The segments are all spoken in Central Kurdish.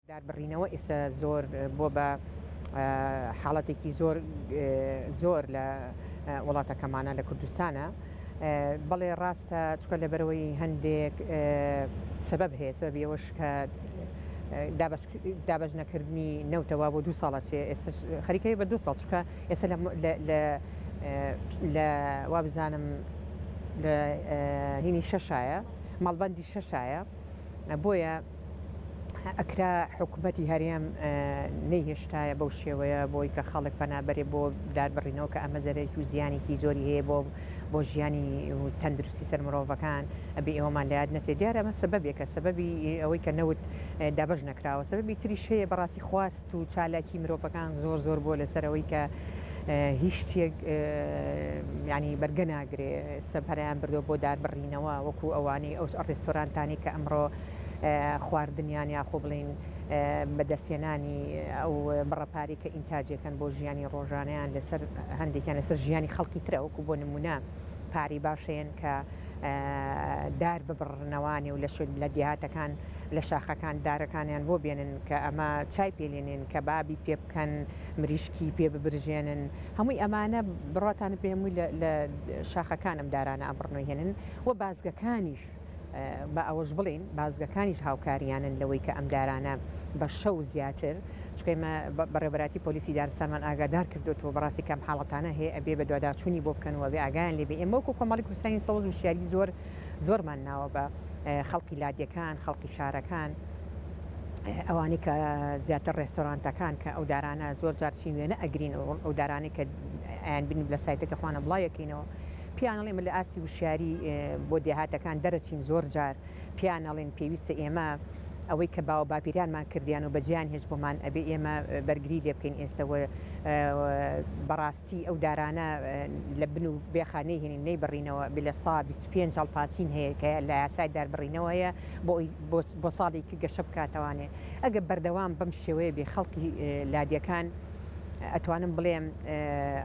داربڕینەوە ئێستا زۆر بووە بە حاڵەتێکی زۆر زۆر لە وڵاتەکەمانە لە کوردستانە بەڵێ ڕاستە چکە لەبەرەوەی هەندێک سبب هەیە سەبی ئەوەش کە دابش نەکردنی نەوتەوە بۆ دو ساڵە چێ ئێستا خەریکەی بە دو ساڵ چکە ئێستا لە وا بزانم لە هینی شەشایە مەڵبندی شەشایە بۆیە ئەکرا حکومەتی هەرێم نەیهێشتایە بەو شێوەیە بۆی کە خەڵک پەنابەرێ بۆ داربڕینەوە کە ئەمە زەرەکی و زیانێکی زۆری هەیە بۆ بۆ ژیانی تەندروستی سەر مرۆڤەکان ئەبێ ئێوەمان لات نەچێت دیارە ئەمە سەبەبێکە سەبەبی ئەوەی کە نەوت دابش نەکراوە سەبەبی تریش هەیە بەڕاستی خواست و چالاکی مرۆڤەکان زۆر زۆر بووە لەسەر ئەوەی کە هیچ شتێک ینی بەرگە ناگرێ سەبەریان بردو بۆ داربڕینەوە وەکو ئەوانەی ئەو ئەڕێستۆرانتانی کە ئەمڕۆ خواردنیان یاخۆ بڵین بەدەستێنانی ئەو بڕەپاری کە ئینتاجەکەن بۆ ژیانی ڕۆژانیان لەسەر هەندێکیان لەسەر ژیانی خەڵکی ترە وەکو بۆ نمونە پاری باشێن کە دار ببڕنەوانێ و لە شوێن لە دیهاتەکان لە شاخەکان دارەکانیان بۆ بێنن کە ئەمە چای پێ لێنێن کەبابی پێ بکەن مریشکی پێ ببرژێنن هەمووی ئەمانە بڕاتانە پێ هەمووی لە شاخەکان ئەم دارانە ئەبڕنەوە هێنن و بازگەکانیش بە ئەوەش بڵین بازگەکانیش هاوکاریانن لەوەی کە ئەم دارانە بە شەو زیاتر چکەمە بەڕێبەتی پۆلیسی دارسانمان ئاگادار کردوەوە بەڕاستی کەم حاڵەتانە هەیە ئەبێ بە دوواداچوونی بۆ بکەنەوە بێ ئاگیان لێبێ ئێمەکو کۆمەڵی کوردستانی سەوز وشیاری زۆر زۆرمان ناوە بە خەڵکی لادێکان خەڵکی شارەکان ئەوانەی کە زیاتر ڕێستۆرانتەکان کە ئەو دارانە زۆر جارچین وێنە ئەگرین و ئەو دارانەی کە ئەیان بین لە سایتەکە خوانە بڵاوەکەینەوە پیانڵێ من لە ئاسی وشیاری بۆ دێهاتەکان دەرەچین زۆر جار پیانەڵێن پێویستە ئێمە ئەوەی کە باوە باپیرانمان کردیان و بەجیان هێش بۆمان ئەبێ ئێمە بەرگری لێ بکەین ئێسەوە بەڕاست تی ئەو دارانە لە بن و بێخا نەیهێنین نەیبڕینەوە بلە سا بیست و پێنج هەڵپاچین هەیە کە لە یاسای داربڕینەوەیە بۆ بۆ ساڵی ک گەشە بکاتەوانێ ئەگە بەردەوام بەم شێوەیە بێ خەڵکی لادێکان ئەتوانم بڵێم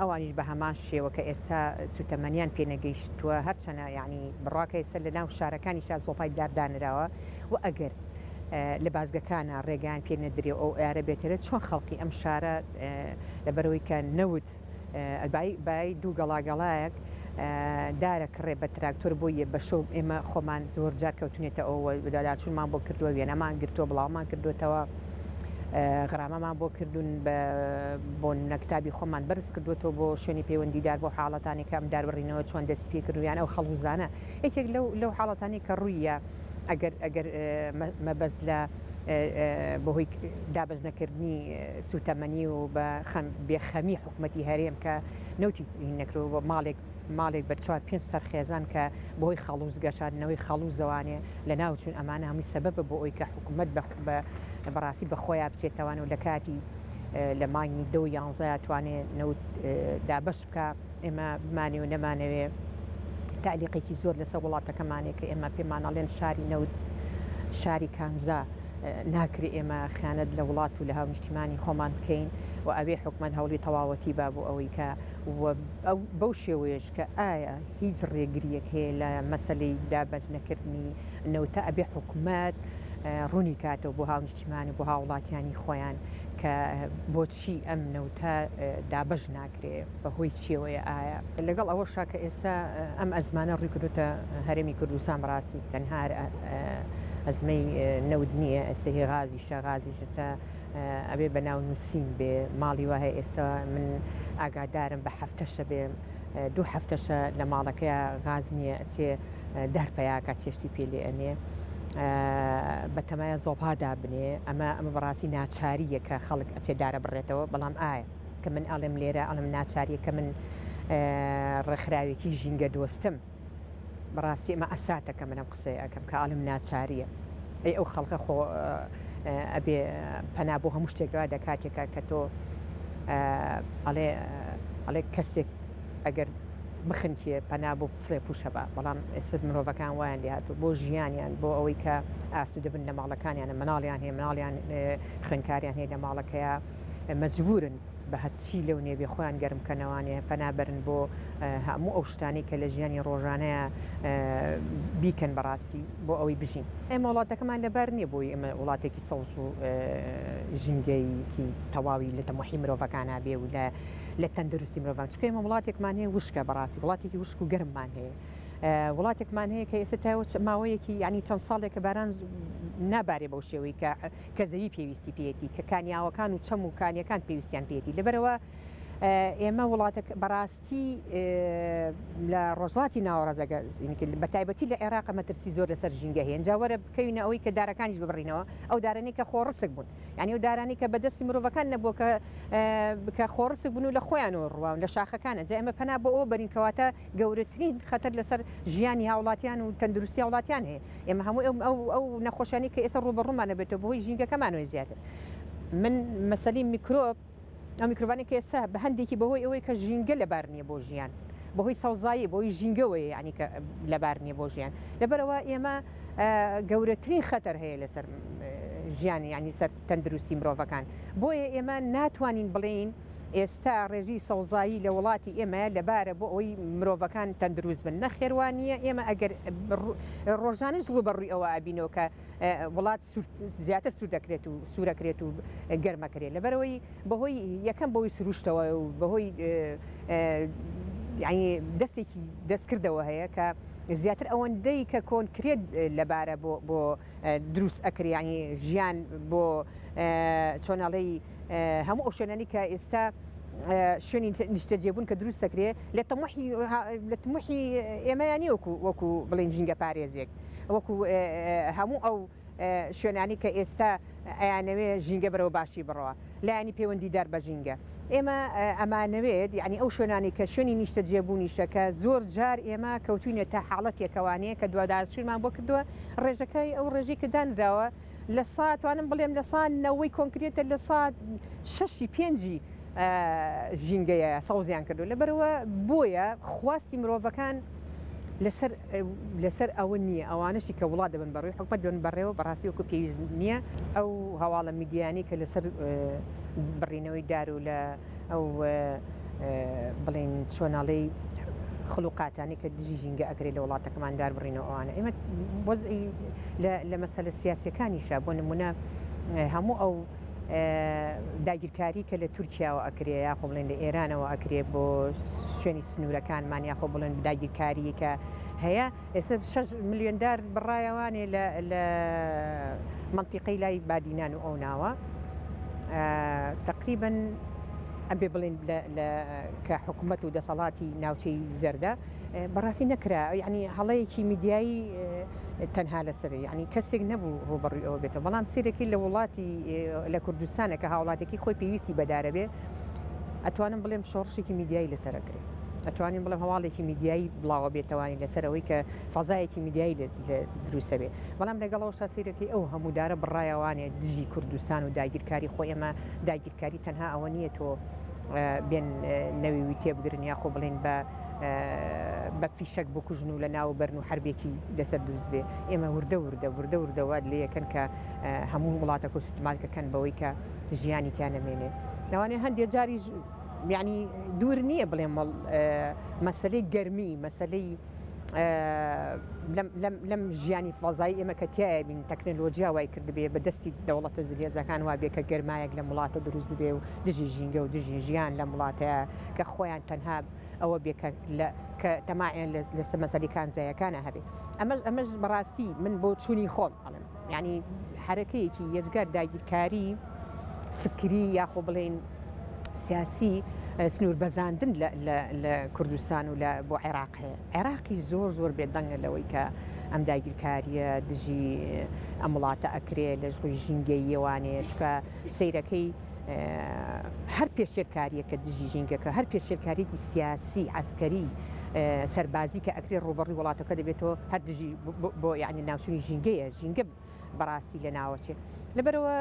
ئەوانیش بە هەمان شێوە کە ئێستا سوتەمەنیان پێنەگەیشتووە هەرچەنە یعنی بڕواکە ئێستا لە ناو شارەکانی شار زۆپای دار دانراوە و ئەگەر لە بازگەکانە ڕێگەیان پێ نەدرێ ئەو ئارە بێتەرێ چۆن خەڵکی ئەم شارە لەبەرئەوەی کە نەوت بای دوو گەڵا گەڵایەک دارە کڕێ بە تراکتۆر بۆ یە بەشۆ ئێمە خۆمان زۆر جار کەوتونێتە ئەوە داچونمان بۆ کردووە وێنەمان گرتووە بڵاومان کردوێتەوە غرامەمان بۆ کردوون بۆ نەکتابی خۆمان بەرز کردوێتەوە بۆ شوێنی پەیوەندیدار بۆ حاڵەتانی کەم داربڕینەوە چۆن دەست پێ کردویان ئەو خەڵوزانە یەکێک لەو لەو حاڵەتانی کە ڕوویە ئەگەر ئەگەر مەبەست لە بەهۆی دابەشنەکردنی سوتەمەنی و بە بێخەمی حکوومەتتی هەرێم کە نەوتی نەکرو بە ماڵێک ماڵێک بە چوار پێ سەر خێزان کە بۆی خەڵوز گەشاندنەوەی خەڵوز زەوانێ لە ناوچون ئەمانە هەمووی سەبەبە بۆ ئەوی کە حکوومەت بە بەڕاستی بە خۆیان بچێتەوان و لە کاتی لە مانگی دە یانزە توانێت نەوت دابش کە ئێمە بمانەوێ و نەمانەوێ تەعلیقێکی زۆر لەسەر وڵاتەکەمانێ کە ئێمە پێمانەڵێن شاری نەوت شاری کانزا ناکرێ ئێمە خیانەت لە وڵات و لە هاونیشتیمانی خۆمان بکەین و ئەوێ حکومت هەوڵی تەواوەتی با بۆ ئەوەی کە بەو شێوەیەش کە ئایا هیچ ڕێگریەک هەیە لە مەسلەی دابەش نەکردنی نەوتە ئەبێ حکومت ڕوونی کاتەوە بۆ هاونیشتیمانی بۆ هاوڵاتیانی خۆیان کە بۆچی ئەم نەوتە دابەش ناکرێت. بەهۆی چیەوەیە ئایا لەگەڵ ئەوەشا کە ئێستا ئەم ئەزمانە ڕیکردوتە هەرێمی کوردستان بەڕاستی تەنها ئەزمەی نەود نییە ئەسەهی غازی شەغازی شتە ئەبێ بە ناو نووسین بێ ماڵی وهەیە ئێستا من ئاگادارم بە هەفتەشە بێ دوو هەفتەشە لە ماڵەکە غاز نییە ئەچێ دار پیاکە چێشتی پێ لێ ئەنێ بەتەمایە زۆڵها دابنێ ئەمە ئەمە بەڕاستی ناچارییە کە خەڵک ئەچێ دارە بڕێتەوە بەڵام ئایا کە من ئەڵێم لێرە ئەڵم ناچاریە کە من ڕێکخراوێکی ژینگە دۆستم بەڕاستی ئمە ئەساتەکە منم قسەی ئەەکەم کە ئەڵم ناچاریە ئەی ئەو خەڵکە خۆ ئەبێ پەنا بۆ هەموو شتێکەوە دەکاتێکە کە تۆ ئەڵێ ئەڵێ کەسێک ئەگەر بخنکێ پەنا بۆ پسڵێ پوشە بە بەڵام ئێستا مرۆڤەکان وایان لێهات و بۆ ژیانیان بۆ ئەوەی کە ئاسو دەبن لە ماڵەکانیانە مناڵیان هەیە مناڵیان خوێنکاریان هەیە لە ماڵەکەیە مەجبورن بە هەچی لەو نێوێ خۆیان گەرم بکەنەوانێ پەنابەرن بۆ هەموو ئەو شتانەی کە لە ژیانی ڕۆژانەیە بیکەن بەڕاستی بۆ ئەوەی بژین ئێمە وڵاتەکەمان لەبار نییە بۆی ئەمە وڵاتێکی سەوز و ژینگەیەکی تەواوی لە تەمەحی مرۆڤەکانە بێ و لە لە تەندروستی مرۆڤان چکە ئمە وڵاتێکمان هەیە وشکە بەڕاستی وڵاتێکی وشک و گەرممان هەیە وڵاتێکمان هەیە کە ئێستا تاوە ماوەیەکی ینی چەند ساڵێکە باران نابارێ بەو شێوەی کە کە زەوی پێویستی پێیەتی، کە کانیاوەکان و چەم و کانیەکان پێویستیان پێیەتی، لەبەرئەوە ئێمە وڵاتە بەڕاستی لە ڕۆژڵاتی ناوەڕزگەزینکرد بە تایبەتی لە عێراق مەترسی زۆر لەسەر ژینگە هێن جاوەرە بکەوینە ئەوەی کە دارەکانیش ببڕینەوە ئەو دارانی کە خۆڕسک بوون ینی و دارانی کە بەدەستی مرۆڤەکان نەبووە کە بکە خۆڕسک بوون و لە خۆیان و ڕوان لە شاخەکانە جا ئەمە پەنا بۆ ئەو بەرینکەواتە گەورەترین خەتەر لەسەر ژیانی هاوڵاتیان و تەندروستی هاوڵاتیان هەیە ئێمە هەموو ئەو ئەو ئەو نەخۆشیانەی کە ئێستا ڕووبەڕوومانە بێتەوە بەهۆی ژینگەکەمانەوەی زیاتر من مەسەلەی میکرۆب ئەو میکرۆبانی کە ئێستا بە هەندێکی بەهۆی ئەوەی کە ژینگە لەبار نییە بۆ ژیان بەهۆی سەوزایی بۆی ژینگەوەی یعنی کە لەبار نییە بۆ ژیان لەبەرەوە ئێمە گەورەترین خەتەر هەیە لەسەر ژیانی ینی سەر تەندروستی مرۆڤەکان بۆیە ئێمە ناتوانین بڵێین ئێستا ڕێژی سەوزایی لە وڵاتی ئێمە لەبارە بۆ ئەوەی مرۆڤەکان تەندروست بن نەخێروانیە ئێمە ئەگەر ڕۆژانش ڕوبەڕووی ئەوە ئابینەوە کە وڵات زیاتر سوور دەکرێت و سوورەکرێت و گەرمەکرێت لەبەرەوەی بەهۆی یەکەم بۆی سروشتەوە و بەهۆی یعنی دەستێکی دەستکردەوە هەیە کە زیاتر ئەوەندەی کە کۆنکرێت لەبارە بۆ دروست ئەکرێ یانی ژیان بۆ چۆن ئەڵێی هەموو ئەو شوێنانی کە ئێستا شوێنی نیشتەجێبوون کە دروست دەکرێ لە تەمەحی لە تمەحی ئێمەیانی وەکو وەکو بڵین ژینگە پارێزێک وەکو هەموو ئەو شوێنانی کە ئێستا ئەیانەوێ ژینگە بەرەوە باشی بڕەوە لایەنی پەیوەندیدار بە ژینگە ئێمە ئەمانەوێت یەعنی ئەو شوێنانەی کە شوێنی نیشتەجێبوونیشە کە زۆر جار ئێمە کەوتووینە تە حاڵەتێکە وانەیە کە دوادارچوونمان بۆ کردووە ڕێژەکەی ئەو ڕێژەی کە دانراوە لە سا توانم بڵێم لە سا نەوەی کۆنکرێتە لە سا شەشی پێنجی ژینگەیە سەوزیان کردو لەبەرەوە بۆیە خواستی مرۆڤەکان لەسەر لەسەر ئەوە نییە ئەوانشی کە وڵات دەبن بەڕووی حکومە دەن بەڕێوە بەڕاستی وەکو پێویست نییە ئەو هەواڵە میدیانی کە لەسەر بڕینەوەی دار و لە ئەو بڵین چۆناڵی خلوقاتانی کە دژی ژینگە ئەگرێ لە وڵاتەکەمان دار بڕینەوە ئەوانە ئێمە وەزعی لە مەسەلە سیاسەکانیشە بۆ نمونە هەموو ئەو داگیرکاری کە لە تورکیاوە ئەکرێ یاخۆ بڵێن لە ئێرانەوە ئەکرێ بۆ شوێنی سنوورەکانمان یاخۆ بڵێن داگیرکاری کە هەیە ئێستا 6 ملیۆندار بڕایەوانێ لە منتیقەی لای بادینان و ئەو ناوە تقریبن ئەبێ بڵێن کە حکوومەت و دەسەڵاتی ناوچەی زەردە بەڕاستی نەکرا ینی هەڵەیەکی میدیایی تەنها لەسەر یعنی کەسێک نەبوو ڕوبەڕوی ئەوە بێتەوە بەڵام سیرەکی لە وڵاتی لە کوردستانە کە هاوڵاتێکی خۆی پێویستی بەدارەبێ ئەتوانم بڵێم شۆڕشێکی میدیایی لەسەرکرێ ئەتوانین بڵێم هەواڵێکی میدیایی بڵاوە بێتوانین لەسەرەوەی کە فەزایەکی میدیایی لە دروستە بێ بەڵام لەگەڵەوە شاسیرەکەی ئەو هەموودارە بڕایەوانێ دژی کوردستان و داگیرکاری خۆ ئێمە داگیرکاری تەنها ئەوە نییە تۆ بێن نەویوی تێبگرن یاخۆ بڵێن بە بە فیشەک بکوژن و لە ناو بەرن و حربێکی لەسەر دروست بێ ئێمە وردە وردە وردە وردەوە لە یەکەن کە هەموو وڵاتە کۆ سوتمالکەکەن بەوەی کە ژیانی تیا نەمێنێ ناوانێ هەندێک جاری یعنی دوور نییە بڵێ مەڵ مەسلەی گەرمی مەسلەی لەم ژیانی فەزای ئێمە کە تایە بین تەکنەلۆجییا وای کردبێ بە دەستی دەوڵەتە زلێزەکان وابێ کە گەرمایەک لە وڵاتە دروست بێ و دژی ژینگە و دژی ژیان لە وڵاتە کە خۆیان تەنها ئەوە بێ کە لە کە تەماعیان لە سەمەسەلی کانزایەکانە هەبێ ئەمەش ئەمەش بەڕاستی من بۆ چووی خۆم ئەڵم ینی حرەکەیەکی یەجگار داگیرکاری فکری یاخۆ بڵین سیاسی سنوور بەزاندن لە کوردستان و لە بۆ عێراق هەیە عێراقی زۆر زۆر بێدەنگە لەوەی کە ئەم داگیرکاریە دژی ئەم وڵاتە ئەکرێ لەش ڕووی ژینگەییەوانەیە چکە سیرەکەی هەر پێشێلکارییەکە دژی ژینگەکە، هەر پێشێلکارییەکی سیاسی، عەسکەری، سەربازی کە ئەکرێت ڕووبەڕووی وڵاتەکە دەبێتەوە، هەر دژی بۆ یانی ناوچوونی ژینگەیە، ژینگە بەڕاستی لە ناوەچێت. لەبەرەوە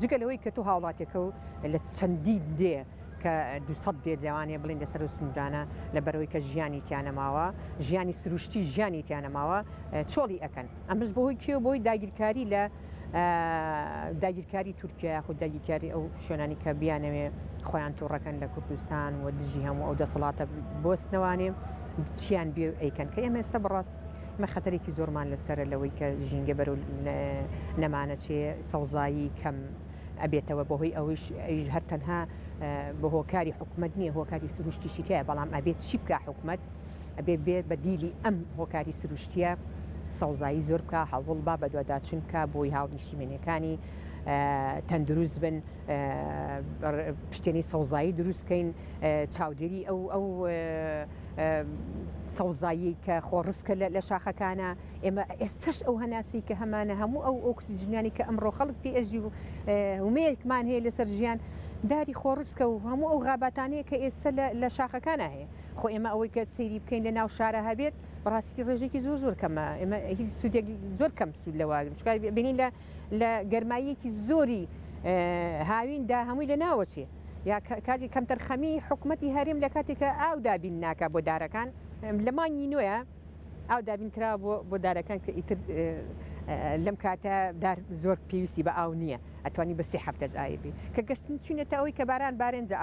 جگە لەوەی کە تۆ هاوڵاتیەکە و لە چەندین دێ کە دوسەد دێ لەوانەیە بڵین لەسەر و سنوورانە لە بەرەوەی کە ژیانی تیانەماوە، ژیانی سروشتی ژیانی تیانەماوە چۆڵی ئەکەن. ئەمەش بەهۆی کێوە بۆی داگیرکاری لە. داگیرکاری تورکیا یاخود داگیرکاری ئەو شوێنانی کە بیانەوێ خۆیان تووڕەکەن لە کوردستان و دژی هەموو ئەو دەسەڵاتە بستنەوانێ چیان بێ ئەیکەن کە ئێمە ئێستا بڕاست مە خەتەرێکی زۆرمان لەسرە لەوەی کە ژینگە بەرو نەمانەچێ سەوزایی کەم ئەبێتەوە بەهۆی ئەوش ئەیش هەر تەنها بە هۆکاری حکومت نییە هۆکاری سروشتیشی تایە بەڵام ئەبێت چی بکە حکومت ئەبێ بێ بەدیلی ئەم هۆکاری سروشتیە سەوزایی زۆر بکە هەوڵ با بەدواداچون بکە بۆی هاونیشیمێنەکانی تەندروست بن پشتێنی سەوزایی دروستکەین چاودێری ئەو ئەو سەوزایی کە خۆڕسکە لە شاخەکانە ئێمە ئێستش ئەو هەناسی کە هەمانە هەموو ئەو ئۆکسسیجنانی کە ئەمڕۆ خەڵک پێژی و ومەیەکمان هەیە لەسەر ژیان داری خۆڕسکە و هەموو ئەو غاباتانەیە کە ئێستا لە شاخەکانە هەیە خۆ ئێمە ئەوەی کە سەیری بکەین لە ناو شارە هەبێت بەڕاستیکی ڕێژێکی زۆر زۆر کەمە ئێمە هیچ سوودێک زۆر کەم سوود لەواگرن چکار بینین لە لە گەرماییەکی زۆری هاویندا هەمووی لە ناوەچێ یا کاتی کەمتەرخەمی حکوومەتتی هەرێم لە کاتێکە ئاو دابین ناکە بۆ دارەکان لە مانگی نوێە ئاو دابین کرا بۆ دارەکان کە ئیتر لەم کاتە دار زۆر پێویستی بە ئاو نییە ئەتوانی بەسی هەفتەج ئایبی کە گەشتن چینێتە ئەوەی کە باران بارێنجە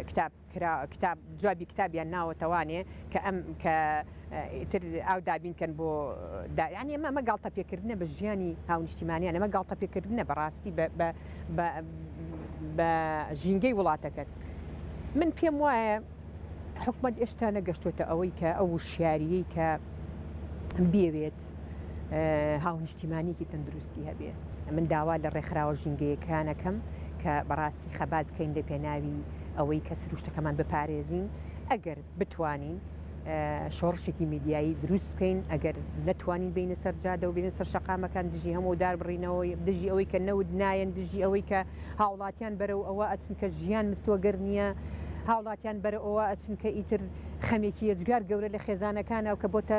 کتاب کرا کتاب جوابی کتابیان ناوە توانێ کە ئەم کە ئیتر ئاو دابین کەن بۆ دا یانی ئەمە ئەمە گاڵتە پێکردنە بە ژیانی هاونیشتیمانیان ئەمە گاڵتە پێکردنە بەڕاستی بە بە بە بە ژینگەی وڵاتەکەت من پێم وایە حکومەت ئێشتا نەگەشتوتە ئەوەی کە ئەو وشیاریی کە بیەوێت بێت هاونیشتیمانیکی تەندروستی هەبێ من داوا لە ڕێکخراوە ژینگەیەکانەکەم کە بەڕاستی خەبات بکەین لە پێناوی ئەوەی کە سروشتەکەمان بپارێزین ئەگەر بتوانین شۆڕشێکی میدیایی دروست بکەین ئەگەر نەتوانین بینە سەر جادە و بینە سەر شقامەکان دژی هەموو دار بڕینەوەی دژی ئەوەی کە نەود نایەن دژی ئەوەی کە هاوڵاتیان بەرەو ئەوە ئەچن کە ژیان مستۆگەر نییە هاوڵاتیان بەرە ئەوە ئەچن کە ئیتر خەمێکی یەجگار گەورە لە خێزانەکانە و کە بۆتە